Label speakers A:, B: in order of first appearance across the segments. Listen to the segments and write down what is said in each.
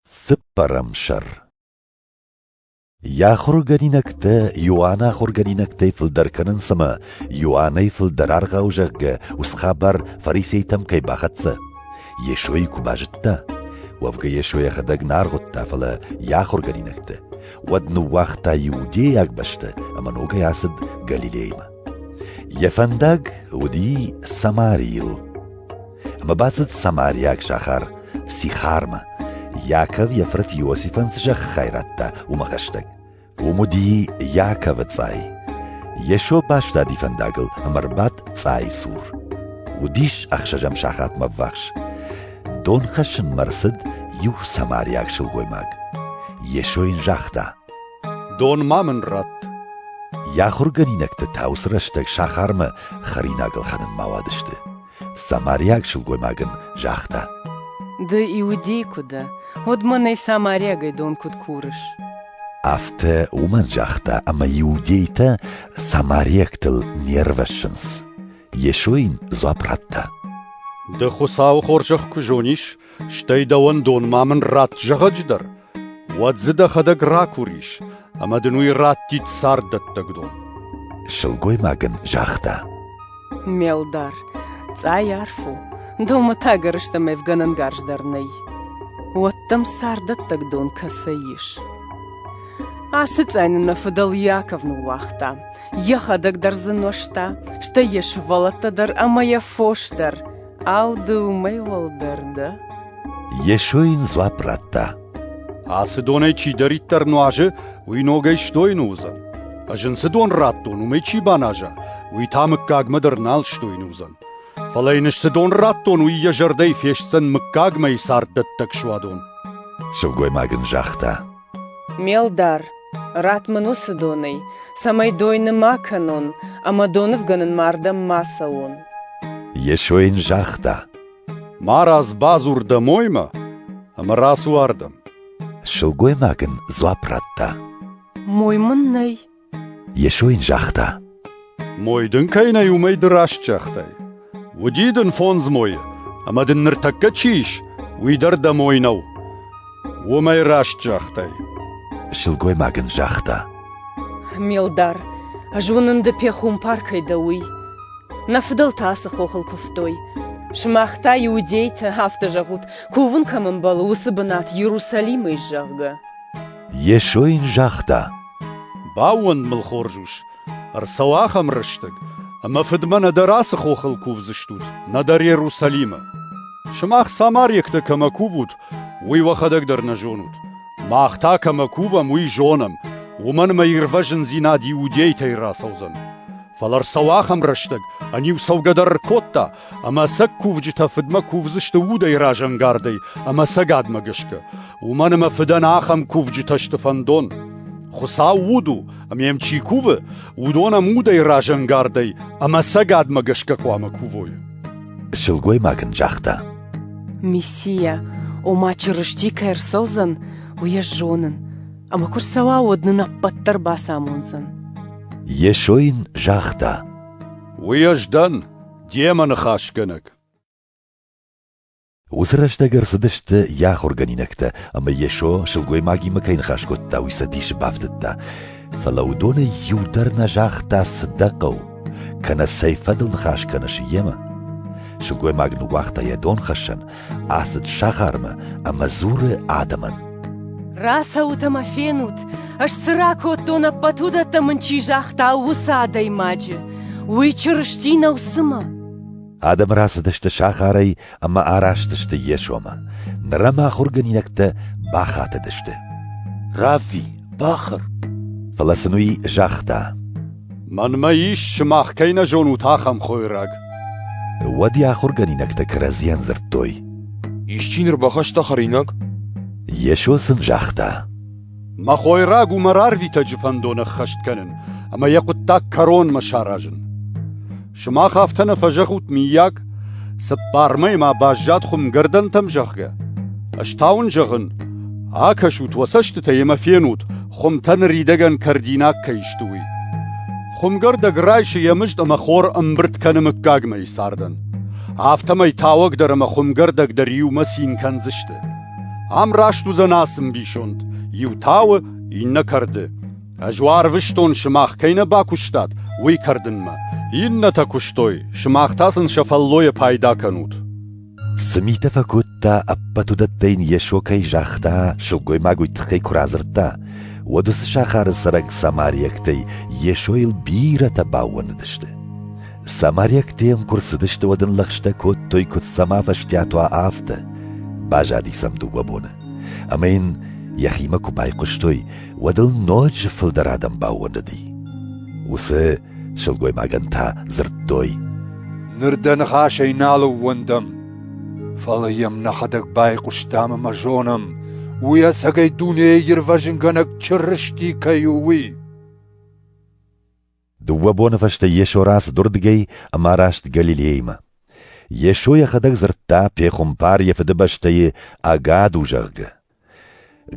A: Цыппӕрӕм сӕр Йӕ ахуыргӕнинӕгтӕ Иоанны ахуыргӕнинӕгтӕй фылдӕр кӕнынц ӕмӕ Иоаннӕй фылдӕр аргъау зӕгъгӕ ус хабар фарисейтӕм кӕй бахӕццӕ. Йесойы куы базыдта, уӕвгӕ Йесо йӕхӕдӕг нӕ аргъуыдта, фӕлӕ йӕ ахуыргӕнинӕгтӕ, уӕд ныууагъта иудейаг бӕстӕ ӕмӕ ногӕй ацыд Галилеймӕ. Йӕ фӕндаг уыди Самарийыл. Ӕмӕ бацыд самариаг сахар Сихармӕ. Иаков йӕ фырт Иосифӕн цы зӕххӕй радта, уымӕ хӕстӕг. Уым уыди Иаковы цъай. Йесо бастади фӕндагыл ӕмӕ рбадт цъайы цур. Уыдис ӕхсӕзӕм сахатмӕ ввахс. Дон хӕссынмӕ рцыд иу самариаг сылгоймаг. Йесо йын загъта: «Дон
B: ма мын ратт». Йӕ
A: ахуыргӕнинӕгтӕ та уыцы рӕстӕг сахармӕ хӕринаг ӕлхӕнынмӕ ауадысты. Самариаг сылгоймаг ын загъта: Ды
C: иудей куы дӕ, уӕд мӕнӕй самариагӕй дон куыд курыс? Афтӕ
A: уымӕн загъта, ӕмӕ иудейтӕ самариӕгтыл не рвӕссынц. Йесо йын дзуапп радта: Ды
B: Хуыцауы хорзӕх куы зонис, стӕй дӕуӕн дон ма мын ратт зӕгъӕджыдӕр, уӕд дзы дӕхӕдӕг ракурис ӕмӕ дын уый раттид царддӕттӕг дон. Сылгоймаг
A: ын загъта: Ме
C: лдар, цъай арф у, домы та гӕрзтӕм ӕвгӕнӕнгарз дӕр нӕй. Уӕддӕм царддӕттӕг дон кӕцӕй ис? Ацы цъай нын нӕ фыдӕл Иаков ныууагъта. Йӕхӕдӕг дӕр дзы нуӕзта, стӕй йӕ сывӕллӕттӕ дӕр ӕмӕ йӕ фос дӕр. Ау, ды уымӕй уӕлдӕр дӕ? Йесо
A: йын дзуапп радта. Ацы
B: донӕй чидӕриддӕр нуазы, уый ногӕй сдойны уыдзӕн. Ӕз ын цы дон радтон, уымӕй чи баназа, уый та мыггагмӕ дӕр нал сдойны уыдзӕн. Фӕлӕ йын цы дон радтон, уый йӕ зӕрдӕйы фестдзӕн мыггагмӕ царддӕттӕг суадон. Сылгоймаг
A: ын загъта. Ме лдар,
C: ратт мын уыцы донӕй, цӕмӕй дойны ма кӕнон ӕмӕ донывгӕнынмӕ ардӕм ма цӕуон. Йесо
A: йын загъта: Марадз
B: бадзур дӕ моймӕ ӕмӕ рацу ардӕм. Сылгоймаг
A: ын дзуапп радта: Мой
C: мын нӕй. Йесо
A: йын загъта, Мой дын
B: кӕй нӕй, уымӕй ды раст загътай. Уыди дын фондз мойы, ӕмӕ дын ныртӕккӕ чи ис, уый дӕр дӕ мой нӕу. Уымӕй раст загътай.
A: Сылгоймаг ын загъта, Мелдар,
C: зонын ды пехуымпар кӕй дӕ, уый. Нӕ фыдӕлтӕ ацы хохыл куывтой. Сымах та иудейтӕ афтӕ зӕгъут, кувын кӕм ӕмбӕлы, уыцы бынат Иерусалимӕй, зӕгъгӕ. Йесо
A: йын загъта, Баууӕнд
B: мыл хорз ус, ӕрцӕуы ахӕм рӕстӕг, ӕмӕ фыдмӕ нӕдӕр ацы хохыл кувдзыстут, нӕдӕр Иерусалимы. Сымах самариӕгтӕ кӕмӕ кувут, уый уӕхӕдӕг дӕр нӕ зонут. Мах та кӕмӕ кувӕм, уый зонӕм, уымӕн ӕмӕ ирвӕзындзинад иудейтӕй рацӕудзӕн. Фӕлӕ ӕрцӕуы ахӕм рӕстӕг, ӕниу цӕугӕ дӕр ӕркодта, ӕмӕ сӕ кувджытӕ фыдмӕ кувдзысты удӕй разӕнгардӕй ӕмӕ цӕгатмӕ гӕсгӕ. Уымӕн ӕмӕ фыдӕн ахӕм кувджытӕ сты фӕндон. Хуыцау уд у, ӕмӕ йӕм чи кувы, уыдон ӕм удӕй разӕнгардӕй ӕмӕ цӕгатмӕ гӕсгӕ хъуамӕ кувой. Сылгоймаг
A: ын загъта: Мессия,
C: ома Чырысти кӕй ӕрцӕудзӕн, уый ӕз зонын. Ӕма куы рцӕуа, уӕд нын ӕппӕт дӕр бацамондзӕн. Йесо
A: йын загъта. Уый ӕз
B: дӕн, демӕ ныхасгӕнӕг.
A: Уыцы рӕстӕг ӕрцыдысты йӕ ахуыргӕнинӕгтӕ, ӕмӕ Йесо сылгоймагимӕ кӕй ныхас кодта, уый сӕ дисы бафтыдта. Фӕлӕ уыдонӕй иу дӕр нӕ загъта, цы дӕ хъӕуы, кӕнӕ цӕй фӕдыл ныхас кӕныс йемӕ. Сылгоймаг ныууагъта йӕ донхӕссӕн ацыд сахармӕ ӕмӕ дзуры адӕмӕн. Рацӕут
C: ӕмӕ фенут, ӕз цы ракодтон, ӕппӕт уыдӕттӕ мын чи загъта, уыцы адӕймаджы. Уый Чырысти нӕу цымӕ? Адӕм
A: рацыдысты сахарӕй ӕмӕ араст йе сомӕ. Нырӕ ма ахуыргӕнинӕгтӕ бахатыдысты. Равви, бахӕр! Фӕлӕ сын уый загъта. Мӕнмӕ
B: ис, сымах кӕй нӕ зонут, ахӕм хойраг. Уӕд
A: йӕ ахуыргӕнинӕгтӕ кӕрӕдзийӕн дзырдтой. Исчи ныр
D: бахаста хӕринаг? Йесо
A: сын загъта. Мӕ
B: хойраг у мӕ рарвитӕджы фӕндон ӕххӕст кӕнын, ӕмӕ йӕ хъуыддаг кӕронмӕ саразын. Сымах афтӕ нӕ фӕзӕгъут, миййаг, цыппармӕй ма баззад хуымгӕрдӕнтӕм, зӕгъгӕ. Ӕз та уын зӕгъын, акӕсут уӕ цӕстытӕ ӕмӕ фенут, хуымтӕ ныридӕгӕн кӕрдинаг кӕй сты, уый. Хуымгӕрдӕг райсы йӕ мызд ӕмӕ хор ӕмбырд кӕны мыггагмӕйы цардӕн. Афтӕмӕй тауӕг дӕр ӕмӕ хуымгӕрдӕг дӕр иумӕ цин кӕндзысты. Ам раст уыдзӕн ацы мбисонд: иу тауы, иннӕ кӕрды. Ӕз уӕ арвыстон, сымах кӕй нӕ бакуыстат, уый кӕрдынмӕ. Иннӕтӕ куыстой, сымах та сын сӕ фӕллойӕ пайда кӕнут. Цы митӕ
A: фӕкодта, ӕппӕт уыдӕттӕ йын Йесо кӕй загъта, сылгоймаг уый тыххӕй куы радзырдта, уӕд уыцы сахары цӕрӕг самариӕгтӕй Йесойыл бирӕтӕ баууӕндыдысты. Самариӕгтӕ йӕм куы рцыдысты, уӕд ын лӕгъстӕ кодтой, куыд сӕм афӕстиат уа, афтӕ. Базади сӕм дыууӕ боны, ӕмӕ йын йӕхимӕ куы байхъуыстой, уӕд ыл ноджы фылдӕр адӕм баууӕндыди. Уыцы сылгоймагӕн та дзырдтой: Ныр дӕ
E: ныхасӕй нал ӕууӕндӕм, фӕлӕ йӕм нӕхӕдӕг байхъуыстам ӕмӕ зонӕм, уый ӕцӕгӕй дунейы ирвӕзынгӕнӕг Чырысти кӕй у, уый.
A: Дыууӕ боны фӕстӕ Йесо рацыдырдыгӕй ӕмӕ раст Галилеймӕ. Йесо йӕхӕдӕг дзырдта, пехуымпар йӕ фыдыбӕстӕйы ӕгад у, зӕгъгӕ.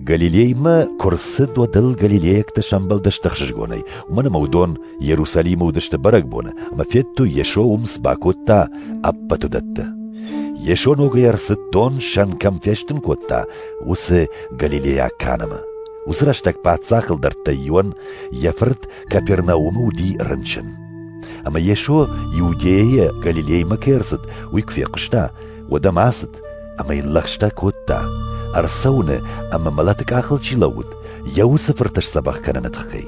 A: Галилеймӕ куы рцыд, уӕд ыл галилейӕгтӕ сӕмбӕлдысты ӕхсызгонӕй, уымӕн ӕмӕ уыдон Иерусалимы уыдысты бӕрӕгбоны, ӕмӕ федтой, Йесо уым цы бакодта, ӕппӕт уыдӕттӕ. Йесо ногӕй ӕрцыд дон сӕн кӕм фестын кодта, уыцы галилейаг кӕнымы. Уыцы рӕстӕг паддзах ӕлдӕрттӕй иуӕн, йӕ фырт Капернаумы уыди рынчын. Ӕмӕ Йесо Иудейӕ Галилеймӕ кӕй ӕрцыд, уый куы фехъуыста, уӕд ӕм ацыд ӕмӕ йын лӕгъстӕ кодта, ӕрцӕуыны ӕмӕ мӕлӕты къахыл чи лӕууыд, йӕ уыцы фырты сдзӕбӕх кӕныны тыххӕй.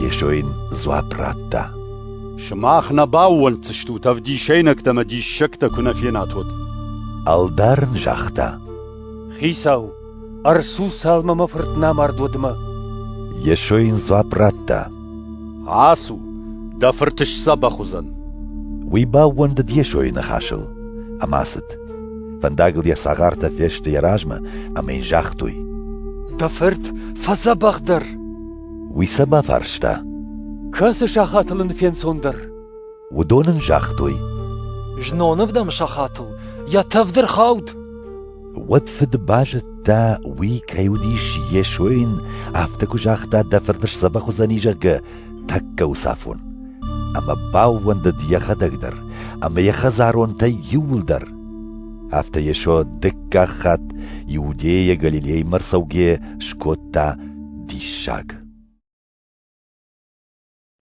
A: Йесо йын дзуапп радта. Сымах
B: нӕ баууӕнддзыстут, ӕвдисӕйнӕгтӕ ӕмӕ диссӕгтӕ куы нӕ фенат, уӕд. Ӕлдар
A: ын загъта. Хицау,
F: Ӕрцу цалмӕ мӕ фырт нӕ мард удмӕ. Йесо
A: йын дзуапп радта. Ацу,
B: дӕ фырт сдзӕбӕх уыдзӕн. Уый
A: баууӕндыд Йесойы ныхасыл ӕмӕ ацыд. Фӕндагыл йӕ цагъартӕ фесты йӕ размӕ ӕмӕ йын загътой. Дӕ фырт
F: фӕдзӕбӕхдӕр. Уый
A: сӕ бафарста. Кӕцы
F: сахатыл ын фенцондӕр? Уыдон ын
A: загътой: Знонов
F: дӕм сахатыл йӕ тӕвд ӕрхауд. Уӕд
A: фыд базыдта, уый кӕй уыдис Йесойын, афтӕ куы загъта, дӕ фырт сдзӕбӕх уыдзӕни, зӕгъгӕ, тӕккӕ уыцы афон. Ӕмӕ баууӕндыд йӕхӕдӕг дӕр ӕмӕ йӕ хӕдзаронтӕй иууылдӕр. Афтӕ Йесо дыккаг хатт Иудейӕ Галилеймӕ рцӕугӕ скодта диссаг.